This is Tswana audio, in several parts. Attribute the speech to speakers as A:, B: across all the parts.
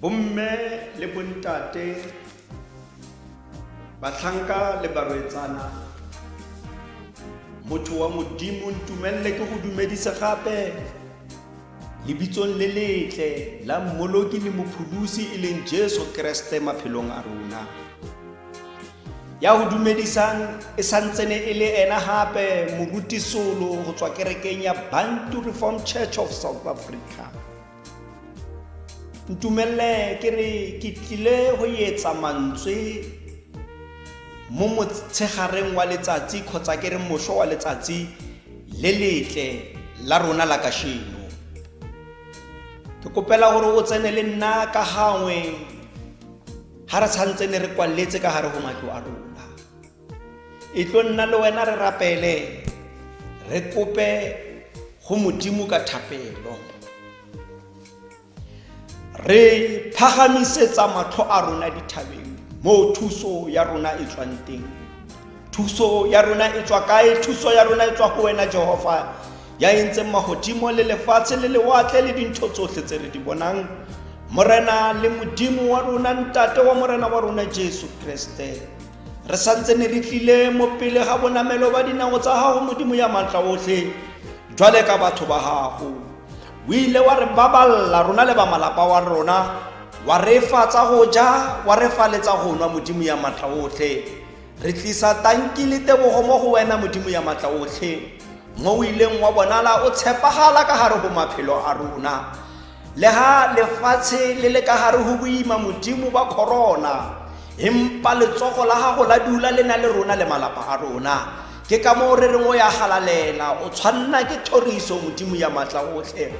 A: bomme le bontate batlhanka le barwetsana motho wa modimo ntumelele ke go dumedisa gape lebitsong le letle la mmoloki le mopholosi e leng jesu keresete maphelong a rona ya go dumedisang e santsene e le ena gape morutisolo go tswa kerekeng ya bantu reform church of south africa ntumelele ke re ke tlile go etsa mantswe mo motshegareng wa letsatsi kgotsa ke re moso wa letsatsi le letle la rona la kasheno ke kopela gore o tsene le nna ka gangwe ga re tshwanetse ne re kwaletse ka gare go matlo a rona e tlo nna le wena re rapele re kope go modimo ka thapelo re phagamisetsa matlho a rona dithabeng moo thuso ya rona e tswang teng Thuso ya rona e tswa kae? Thuso ya rona e tswa go wena Jehova ya entseng magodimo le lefatshe le lewatle le dintho tsotlhe tse re di bonang morena le modimo wa rona ntate wa morena wa rona jesu kreste re santse ne re tlile mo pele ga bonamelo ba dinao tsa gago modimo ya maatla otlhe jwale ka batho ba gago o ile wa re baballa rona le ba malapa wa rona wa re fa tsa go ja wa re faletsa go nwa modimo ya maatla otlhe Re tlisa tanki le tebogo mo go wena Modimo ya matla otlhe, mo o ileng wa bonala o tshepagala ka gare go maphelo a rona. Le ha lefatshe le le ka gare go boima Modimo ba corona, empa letsogo la gago la dula le na le rona le malapa a rona. Ke ka moo re reng o ya galalela, o tshwanna ke thoriso Modimo ya matla otlhe.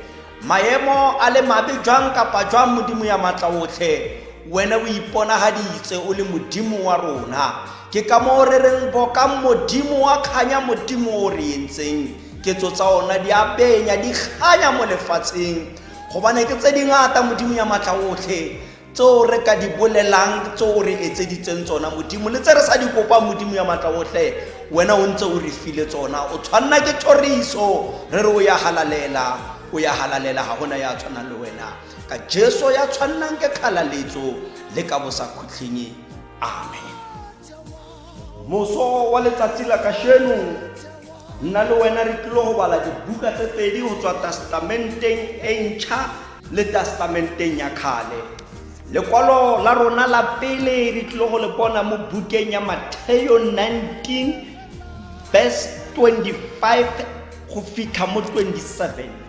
A: Maemo a le mabe jwang kapa jwang Modimo ya matla otlhe, wena o iponagaditse o le Modimo wa rona. Ke ka moo re reng bokang Modimo wa kganya Modimo o re entseng ketso tsa ona di a penya di kganya mo lefatsheng gobane ke tse dingata Modimo ya matla otlhe tseo re ka di bolelang tseo re etseditseng tsona modimo le tse re sa di kopang modimo ya matla otlhe wena o ntse o re file tsona o tshwanna ke thoriso re re o ya halalela o ya halalela ga gona ya tshwanang le wena ka jesu ya tshwannang ke kgalaletso le ka bosakhutlhing amen moso wa letsatsi la kasheno nna le wena re tlilo go bala dibuka tse pedi go tswa testamenteng e ntšha le testamenteng ya kgale lekwalo la rona la pele re tlilo go le bona mo bukeng ya matheo 19 verse 25 go fitlha mo 27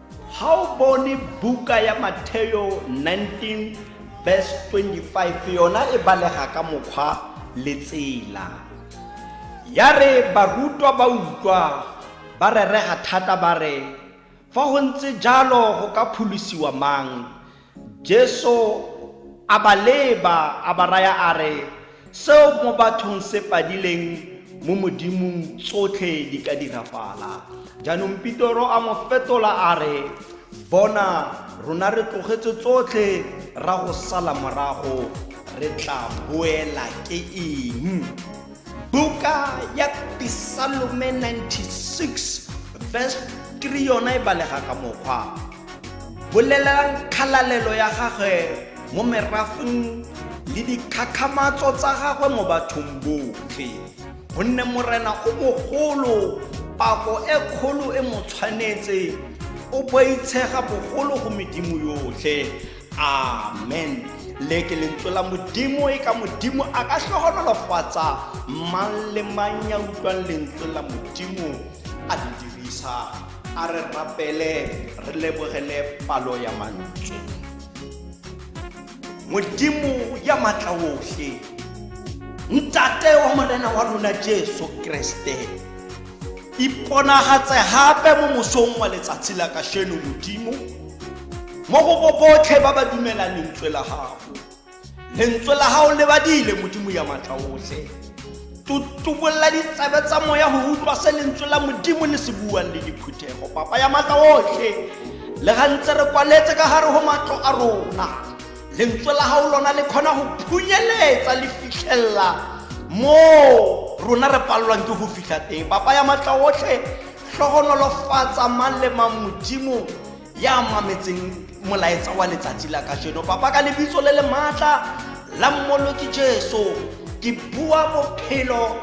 A: ga o bone buka ya matheo 19 verse 25 yona e balega ka mokgwa le tsela ya re barutwa ba utlwa ba rerega thata ba re fa go ntse jalo go ka pholosiwa mang Jesu a ba leba, a ba raya a re, Seo mo bathong se padileng, mo Modimong tsotlhe di ka dirafala. Jaanong Pitoro a mo fetola a re, Bona, rona re tlogetse tsotlhe ra go sala morago, re tla boela ke eng? Buka ya Pisalome 96 verse 3 yona e balega ka mokgwa Bolelelang kgalalelo ya gagwe mo merafeng le dikgakgamatso tsa gagwe mo bathong botlhe. Gonne Morena o mogolo, pako e kgolo e mo tshwanetse, o boitshega bogolo go medimo yotlhe. Amen. Le ke lentswe la Modimo e ka Modimo a ka tlhogonolofatsa mang le mang ya utlwang lentswe la Modimo a le dirisa. a re rapele re lebogele palo ya mantle modimo ya matla otlhe ntate wa morena wa rona jesu kreste iponagatse gape mo mosong wa letsatsi la kasheno modimo mo go bo botlhe ba ba dumelang lentswe la gago lentswe la gago le badile modimo ya matla otlhe tutubolola ditsebe tsa moya go utlwa se lentswe la modimo le se buang le diphuthego papa ya matla otlhe le ga ntse re kwaletse ka gare go matlo a rona lentswe la gago lona le kgona go phunyeletsa le fitlhelela moo rona re palelwang ke go fitlha teng papa ya matla otlhe tlhogonolofatsa mang le mang modimo ya mametseng molaetsa wa letsatsi la kajeno papa ka lebitso le le maatla la mmoloki jesu ke bua bophelo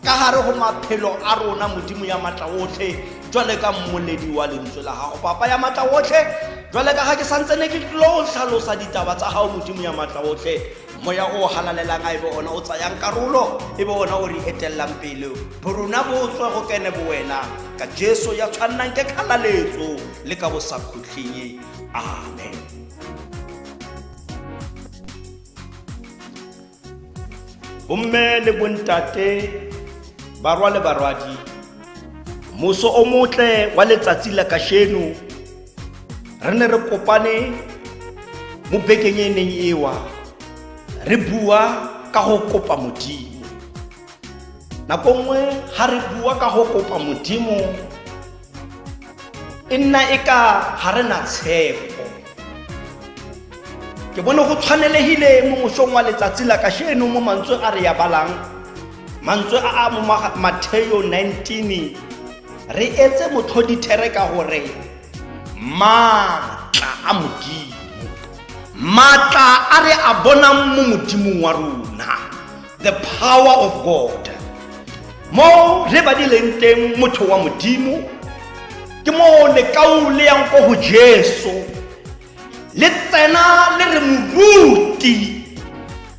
A: ka gare go maphelo a rona modimo ya matla otlhe jwale ka mmoledi wa lentswe la gago papa ya matla otlhe jwale ka ga ke santse ne ke tlo tlhalosa ditaba tsa gago modimo ya matla otlhe moya o o halalelang a e be ona o tsayang karolo e be ona o re etellang pele bo rona bo tswe go kene bo wena ka jesu ya tshwannang ke kgalaletso le ka bo sa khutlheng amen bomme le bontate barwa le barwadi moso o motle wa letsatsi la kasheno re ne re kopane mo bekeng e neng ewa re bua ka go kopa modimo nako nngwe ga re bua ka go kopa modimo e nna e ka ga re na tshepo ke bone go tshwanelegile mo mosong wa letsatsi la kasheno mo mantswe a re ya balang mantswe a a mo matheo 19 Re etse motlhodithere ka gore maatla a Modimo, maatla a re a bonang mo Modimong wa rona, the power of God. Mo re badileng teng motho wa Modimo, ke moo lekaule yang ko go Jesu. le tsena le re moruti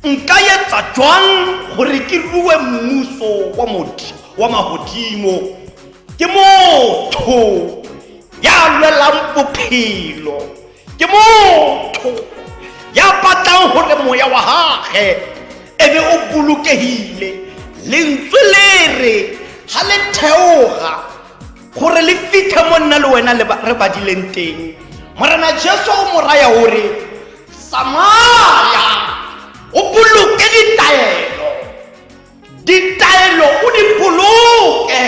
A: nka etsa jwang gore ke rue mmuso wa motho wa magodimo ke motho ya lwelang bophelo ke motho ya batlang gore moya wa gage e be o bolokegile lentswe le re ga le theoga gore le fitlhe mo nna le wena re badileng teng morena jesu o mo raya gore tsamaya o boloke ditaelo ditaelo o di boloke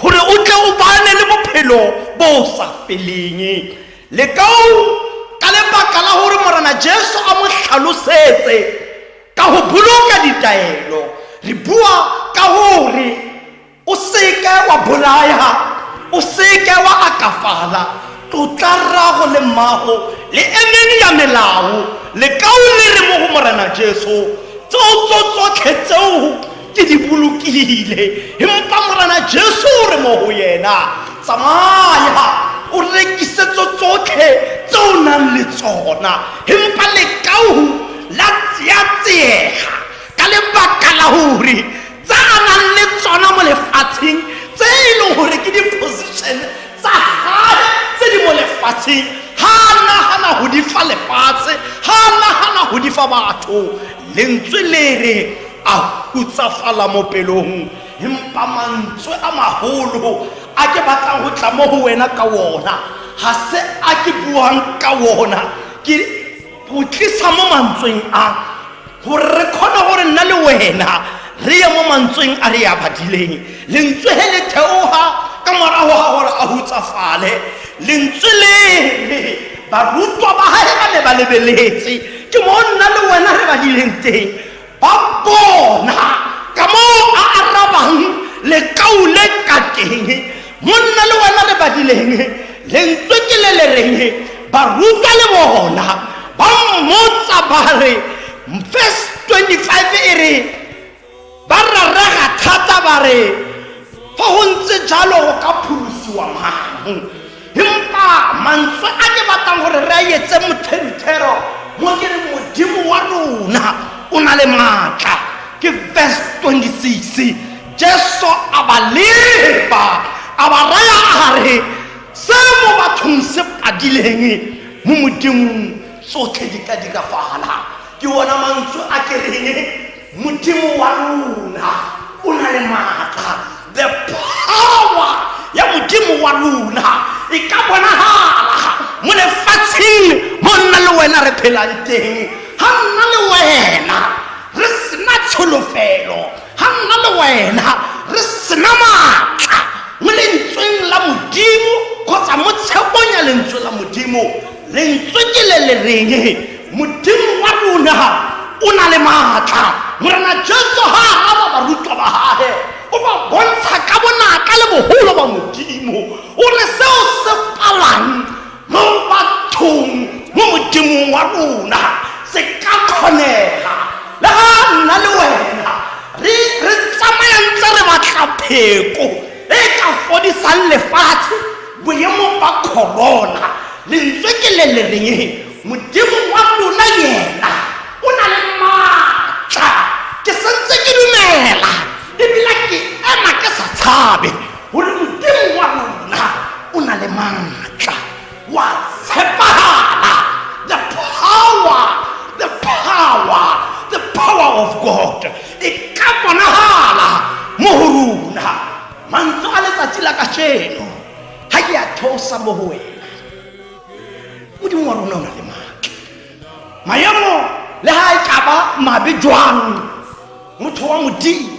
A: gore o tle o bane le bophelo bo o sa feleng le kao ka lebaka la gore morena jesu a mo tlhalosetse ka go boloka ditaelo re bua ka gore o seke wa bolaya o seke wa akafala tlotla rrago le mmago le emeng ya melao lekao le re mo go morena jesu tseo tso tsotlhe tseo ke di bolokile empa morena jesu o re mo go yena tsamaya o rekisetso tsotlhe tse o nang le tsona empa lekao la tseatsega ka lebaka la gore tse a nang le tsona mo lefatsheng tse e leng gore ke di-position tsa gage tse di mo lefatsheng ga a nagana go di fa lefatshe ga a nagana go di fa batho lentswe le re a hutsafala mo pelong empa mantswe a magolo a ke batlang go tla mo go wena ka wona ga se a ke buang ka wona ke go tlisa mo mantsweng a gore re kgone gore nna le wena re ye mo mantsweng a re ya badileng lentswe he le theoga ka morago ga gore a hutsafale lentswe le barutwa ba gae ba ne ba lebeletse ke mo nna le wena re badileng teng ba bona ka moo a arabang lekau le ka teng monna le wena re badileng lentswe ke le le reng baruta le bona ba mmotsa ba re verse 25 e re ba rarega thata ba re fa go ntse jalo go ka pholosi wa mang empa mantswe a ke batlang gore re a etse mothentero mo ke re modimo wa rona o na le maatla ke verse 26 jesu a ba leba a ba raya a re se mo bathong se padileng mo modimong tsotlhe di ka diragalang ke ona mantswe a ke reng Modimo wa luna o na le maatla. The power ya Modimo wa luna e ka bonagala mo lefatsheng mo nna le wena re phelang teng. Ha nna le wena re sena tsholofelo, ha nna le wena re sena maatla mo lentsweng la Modimo kgotsa mo tshepong ya lentswe la Modimo. lentswe ke le le reng modimo wa rona o na le maatla morena jesu ga a raba barutwa ba gage o ba bontsha ka bonatla le bogolo ba modimo o re seo se palang mo bathong mo modimong wa rona se ka kgonega le ga nna le wena re re tsamayang tse re batla pheko e ka fodisang lefatshe boemo ba corona lentswe ke le le reng modimo wa lona yena o na le maatla ke santse ke dumela ebile ke ema ke sa tshabe gore modimo wa lona o na le maatla wa tshepagala the power the power the power of god e ka bonagala mo go rona mantlo a letsatsi la kajeno ga ke a theosa mo go wena modimo wa rona o na le maatla maemo le ga e kaba mabe jwang motho wa modimo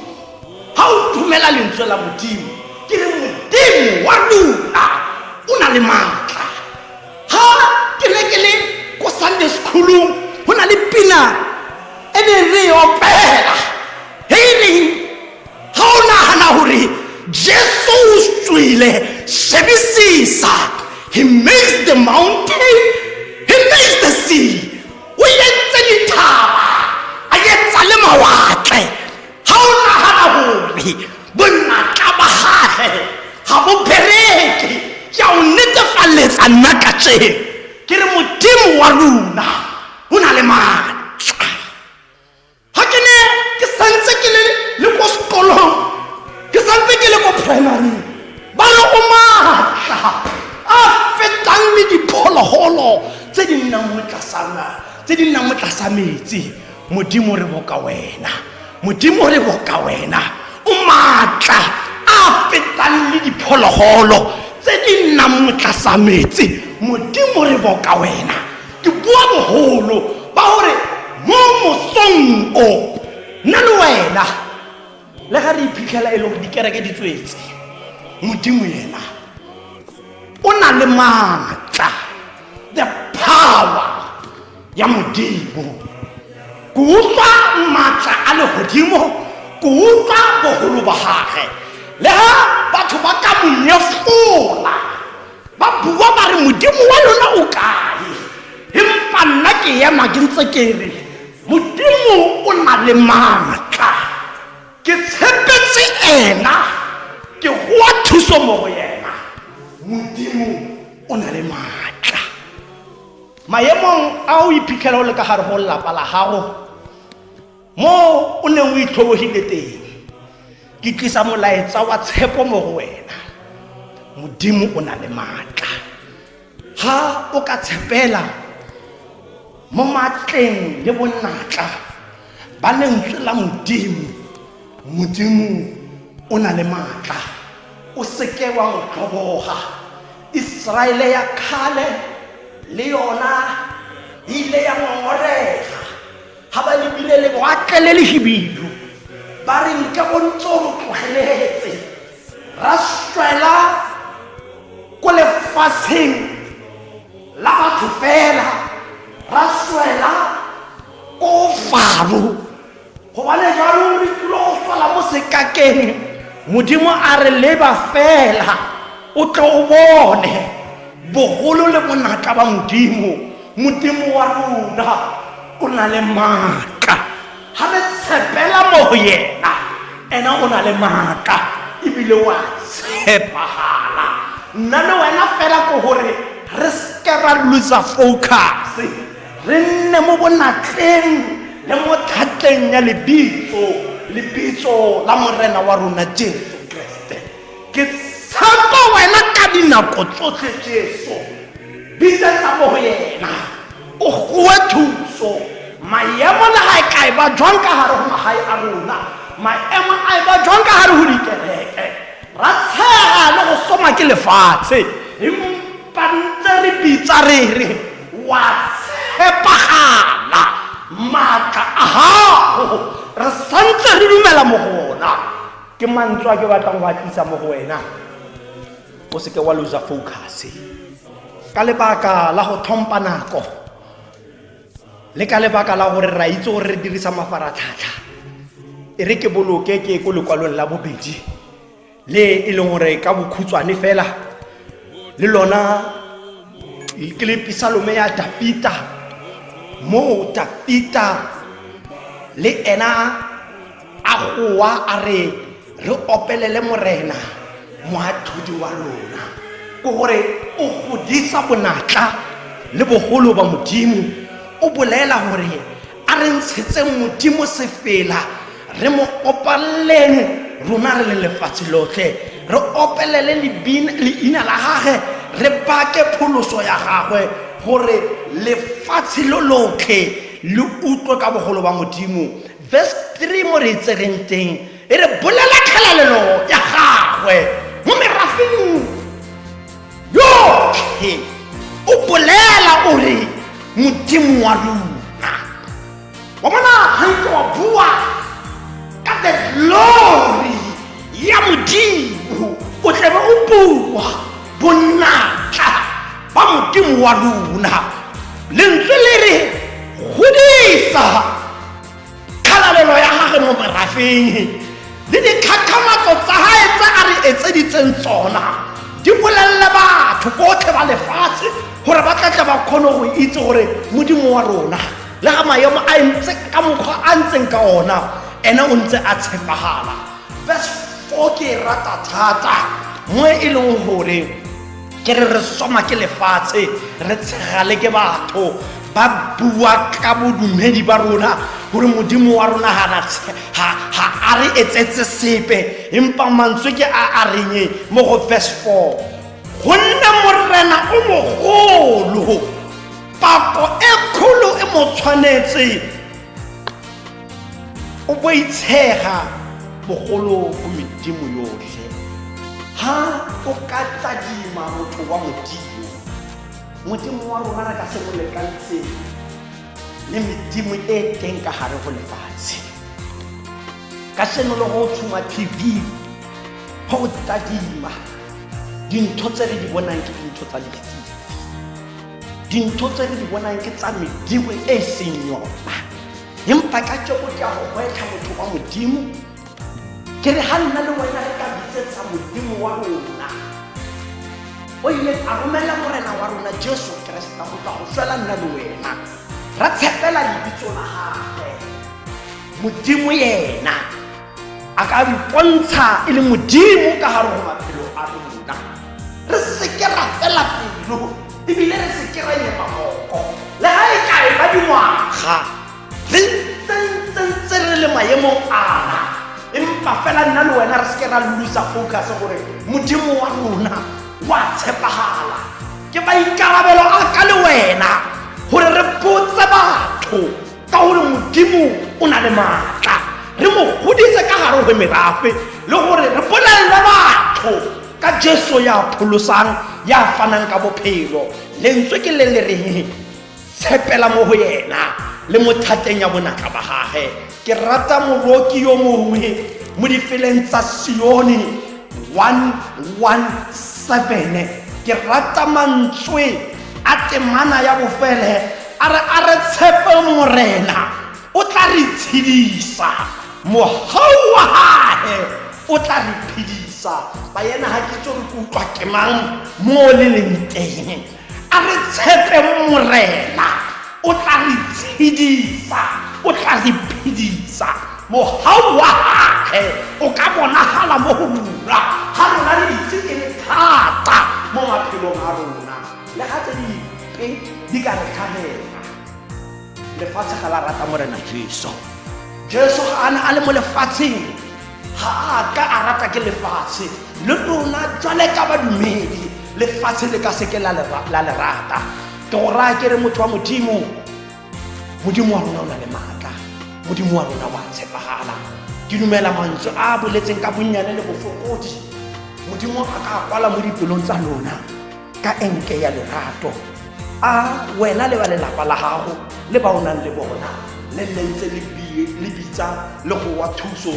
A: ga o thumela lentswe la modimo ke re modimo wa lona o na le maatla ga ke ne ke le ko sunday secolong go na le pina e ne re e opela ga o nagana gore jesu o tswile shebisisa he makes the mountain he makes the sea o yetse dithaba a yetsa le mawatle ga o nagana gore bonnatla ba gage ga bo bereke ke a o netefaletsa nna ka tšeno ke re modimo wa luna o na le maatla ga ke ne ke santse ke le le ko sekolong ke santse ke le ko primary ba re o maatla a fetang le diphologolo tse di nnang mo tlasana tse di nnang mo tlasa metsi modimo re boka wena modimo re boka wena o maatla a fetang le diphologolo tse di nnang mo tlasa metsi modimo re boka wena ke bua boholo ba gore mo mosong o nna le wena le ga re iphitlhela e le gore dikereke di tswetse modimo yena o na le maatla the power ya modimo ko utlwa maatla a legodimo ko utlwa bogolo ba gage le ga batho ba ka monyefola ba bua ba re modimo wa lona o kae empa nna ke ema ke ntse ke re modimo o na le maatla ke tshepetse ena ke goa thuso mo go yena modimo o na le maatla maemong a o iphitlhela o le ka gare go lelapa la gago moo o neng o itlhobogile teng ke tlisa molaetsa wa tshepo mo go wena modimo o na le maatla ga o ka tshepela mo maatleng le bonatla ba lentswe la modimo modimo o na le maatla o seke wa mo tlhoboga iseraele ya kgale le yona e ile ya ngongorega ga ba lebile le boatlele le hibidu ba re nke go ntse o re tlogeletse ra swela ko lefatsheng la batho fela ra swela ko faro gobane jaanong re tlilo go swela mo sekakeng modimo a re leba fela o tle o bone bogolo le bonatla ba modimo modimo wa rona o na le maatla ga re tshepela mo go yena ena o na le maatla ebile wa tshepagala nna le wena fela ko gore re seke ra losa focus re nne mo bonatleng le mo tlhatleng ya lebitso lebitso la morena wa rona jesu ke tshepo wena ka dinako tsotlhe jesu bisetsa mo go yena o gowe thuso maemo le ga e ka e ba jwang ka gare go magae a rona maemo a e ba jwang ka gare go dikereke ra tshega le go soma ke lefatshe empa ntse re bitsa re re wa tshepagala maatla a gago re santse re dumela mo gona ke mantswe a ke batlang go a tlisa mo go wena o seke wa losa focus ka lebaka la go tlhompha nako le ka lebaka la gore ra itse gore re dirisa mafaratlhatlha e re ke boloke ke ko lekwalong la bobedi le e leng gore ka bokhutshwane fela le lona ke le pisalome ya dapita moo dapita le ena a goa a re re opelele morena moatlhodi wa lona ke gore o godisa bonatla le bogolo ba modimo o bolela gore a re ntshetseng modimo sefela re mo opaleleng rona re le lefatshe lotlhe re opelele leina la gage re bake pholoso ya gagwe gore lefatshe lo lotlhe le utlwe ka bogolo ba modimo Verse 3 mo re itsegeng teng e re bolela tlhalalelo ya gagwe mo merafeng yotlhe o bolela o re modimo wa luna wa bona gantse wa bua ka the glory ya modimo o tlabe o bua bonatla ba modimo wa luna lentswe le re godisa tlhalalelo ya gage mo merafeng le dikgakgamatso tsa gae tse a re etseditseng tsona di bolelele batho botlhe ba lefatshe gore ba tlatla ba kgone go itse gore modimo wa rona le ga maemo a ntse ka mokgwa a ntseng ka ona ene o ntse a tshepagala verse 4 ke e rata thata mo e leng gore ke re re soma ke lefatshe re tshegale ke batho ba bua ka bodumedi ba rona gore modimo wa rona ga a re etsetse sepe empa mantswe ke a a reng mo go verse 4 gonne morena o mogolo pako e kgolo e mo tshwanetse o bo itshega bogolo go medimo yotlhe ha o ka tladima motho wa modimo modimo wa rona re ka se mo lekantsheng le medimo e teng ka gare go lefatshe ka seno le go tshuma tv go o tladima dintho tse re di bonang ke dintho tsa lefifi dintho tse re di bonang ke tsa medimo e seng yona empa ka tšeo ke a go gwetlha motho wa modimo ke re ga nna le wena re ka bitsetsa modimo wa rona o ile a romela morena wa rona jesu kereseta go tla go swela nna le wena ra tshepela lebitso la gagwe modimo yena a ka re pontsha e le modimo ka gare go maphelo a rona re seke ra fela pelo ebile re seke ra nyema moko le ga e kae ba dingwaga re ntsentse re le maemong ana empa fela nna le wena re seke ra lulusa focus gore modimo wa rona wa tshepagala ke maikarabelo a ka le wena gore re botse batho ka gore modimo o na le maatla re mo godise ka gare go merafe le gore re bolelele batho ka jesu ya pholosang ya fanang ka bophelo lentswe ke le le reng tshepela mo go yena le mo thateng ya bonatla ba gage ke rata moroki yo mongwe mo difeleng tsa sione 117 ke rata mantswe a temana ya bofele a re a re tshepe morena o tla re tshedisa mogau wa gage o tla re phedisa ba yena ga ke tsore ke utlwa ke mang mo le leng teng a re tshepe morena o tla re tshedisa o tla re phedisa mohau wa gage o ka bonagala mo go lura ga rona le ditse e le thata mo maphelong a rona le ga tse dipe di ka re tlhagela lefatshe ga la rata morena jesu jesu ga a ne a le mo lefatsheng ga a ka a rata ke lefatshe le lona jwale ka badumedi lefatshe le ka seke la le rata tora ke re motho wa modimo modimo wa rona o na le maatla modimo wa rona wa tshepagala ke dumela mantswe a a boletseng ka bonnyane le bofokodi modimo a ka kwala mo dipelong tsa lona ka enke ya lerato a wena le ba lelapa la gago le ba o nang le bona le nne ntse le bi- le bitsa le go wa thuso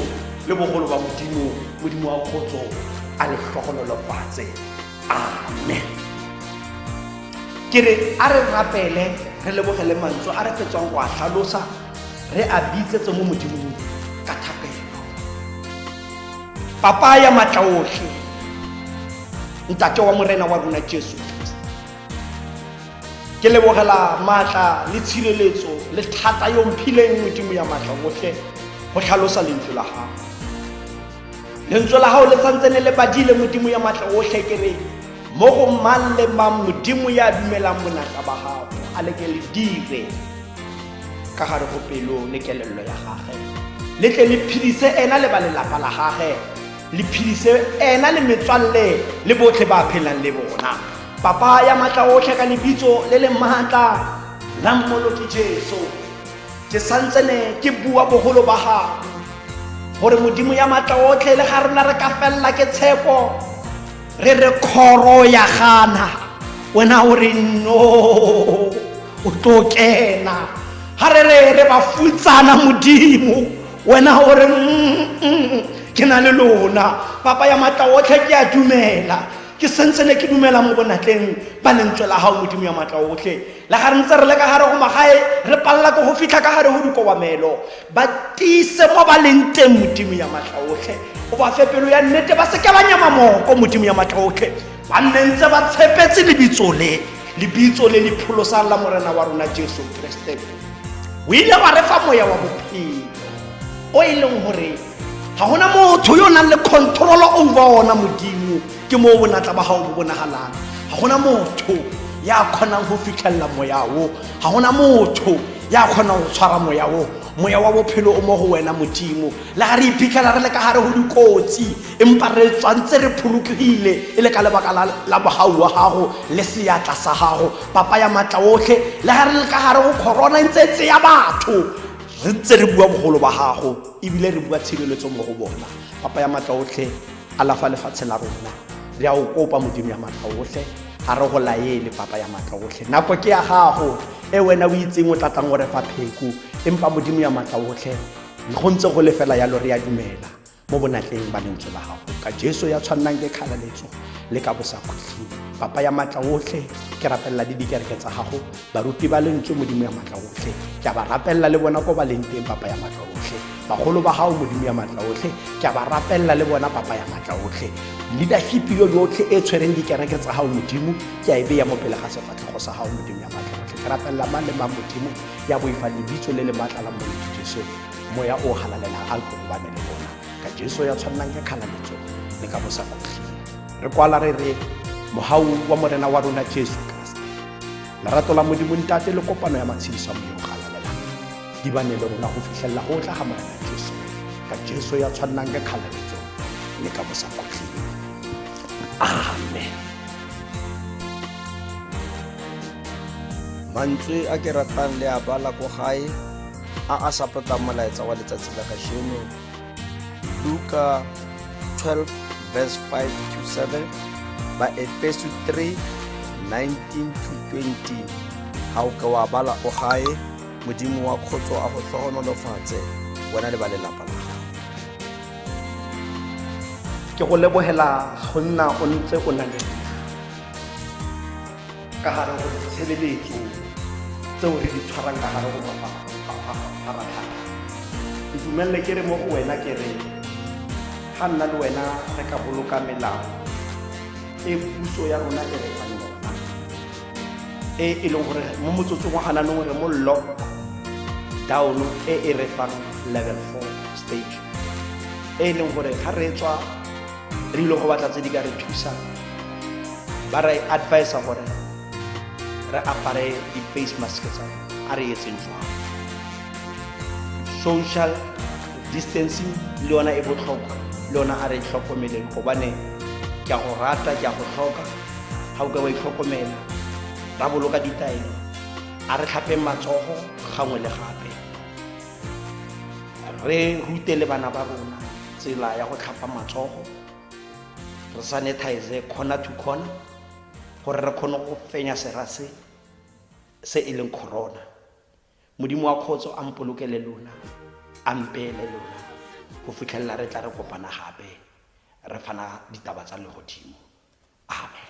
A: le bogolo ba modimo modimo wa kgotso a le tlhogololofatse amen ke re a re rapele re lebogele mantswe a re fetswang go a tlhalosa re a bitsetse mo modimong ka thapelo papa ya matla otlhe ntate wa morena wa rona jesu ke lebogela maatla le tshireletso le thata yo mphileng modimo ya maatla otlhe go tlhalosa lentswe la gago lentswe la gago le santse ne le badile modimo ya maatla otlhe ke re mo go mang le mang modimo ya dumelang bonatla ba gago a le ke le dire ka gare go pelo le kelello ya gage le tle le phedise ena le ba lelapa la gage le phedise ena le metswalle le botlhe ba phelang le bona papa ya maatla otlhe ka lebitso le le maatla la mmoloki jesu ke santsene ke bua bogolo ba gago gore modimo ya maatla otlhe le ga rona re ka felela ke tshepo re re kgoro ya gana wena o re no o tlo kena ga re re re ba futsana modimo wena o re mm, mm, ke na le lona papa ya maatla otlhe ke a dumela ke sentse ne ke dumela mo bonatleng ba lentswe la gago modimo ya maatla otlhe Le ga re ntse re le ka gare go magae re palela ko go fitlha ka gare go dikobamelo ba tiise mo ba leng teng modimo ya matlha otlhe o ba fe pelo ya nnete ba seke ba nyama moko modimo ya matlha otlhe ba nne ntse ba tshepetse lebitso le lebitso le le pholosang la morena wa rona jesu kreste o ile wa re fa moya wa bophelo o e leng gore ga gona motho yo o nang le control over ona modimo ke moo bonatla ba gago bo bonagalang ga gona motho ya kgonang go fitlhelela moya o ga gona motho ya kgonang go tshwara moya o moya wa bophelo o mo go wena modimo le ga re iphitlhela re le ka gare go dikotsi empa re tswantse re pholokegile e le ka lebaka la bogau wa gago le seatla sa gago papa ya maatla otlhe le ga re le ka gare go corona ntse tse ya batho re ntse re bua bogolo ba gago Ebile re bua tshireletso mo go bona. Papa ya matla otlhe, alafa lefatshe la rona. Re a o kopa, Modimo ya matla otlhe. Ga re go laele, Papa ya matla otlhe. Nako ke ya gago, e wena o itseng o tla tlang o re fa pheko. Empa Modimo ya matla otlhe, go ntse go le fela yalo re a dumela mo bonatleng ba lentswe la gago. Ka Jesu ya tshwannang ke kgalaletso le ka bosakhutleng. Papa ya matla otlhe, ke rapelela le dikereke tsa gago. baruti ba lentswe modimo ya matla otlhe ke a ba rapelela le bona ko ba leng teng papa ya matla otlhe bagolo ba gago modimo ya matla otlhe ke a ba rapelela le bona papa ya matla otlhe leadership yo yotlhe e tshwereng dikereke tsa gago modimo ke a e beya mo pele ga sefatlhego sa gago modimo ya matla otlhe ke rapelela mang le mang modimo ya boifa lebitso le le matla la moletho jesu moya o galalelang a lkobane le bona ka jesu ya tshwannang ke kgalaletso le ka bosa kotlhe re kwala re re mogau wa morena wa rona jesu lerato la modimo ntate le kopano ya matshediso a modimo ga lalelang di bane le rona go fitlhelela go tla ga morena jesu ka jesu ya tshwannang ka kgalaletso le ka bosa kgotlheng amen
B: mantswe a ke ratang le a bala ko gae a a sapotang molaetsa wa letsatsi la kasheno Luka 12 verse 5 to 7 ba Efeso 3 19 to 20 ga o ka wa bala o gae modimo wa kgotso a go tlhogonolofatse wena le ba lelapa la gago
A: ke go lebogela go nna o ntse o na le ka gare go ditshebeletso tseo re di tshwarang ka gare go mafaratlhatlha ke dumelele ke re mo go wena ke re ga nna le wena re ka boloka melao e puso ya rona e re fang yona e e leng gore mo motsotsong wa gananong re mo lock down e e re fang level four stage e e leng gore ga re tswa re ile go batla tse di ka re thusang ba re advise gore re apare di-face mask tsa a re etseng jwang social distancing le yona e botlhokwa le yona a re tlhokomeleng gobane ke a go rata ke a go tlhoka ga o ka wa itlhokomela ra boloka ditaelo a re tlhapeng matsogo gangwe le gape re rute le bana ba rona tsela ya go tlhapa matsogo re sanitize corner to corner gore re kgone go fenya sera se se e leng corona modimo wa kgotso a mpolokele lona a mpeele lona go fitlhelela re tla re kopana gape re fana ditaba tsa legodimo amen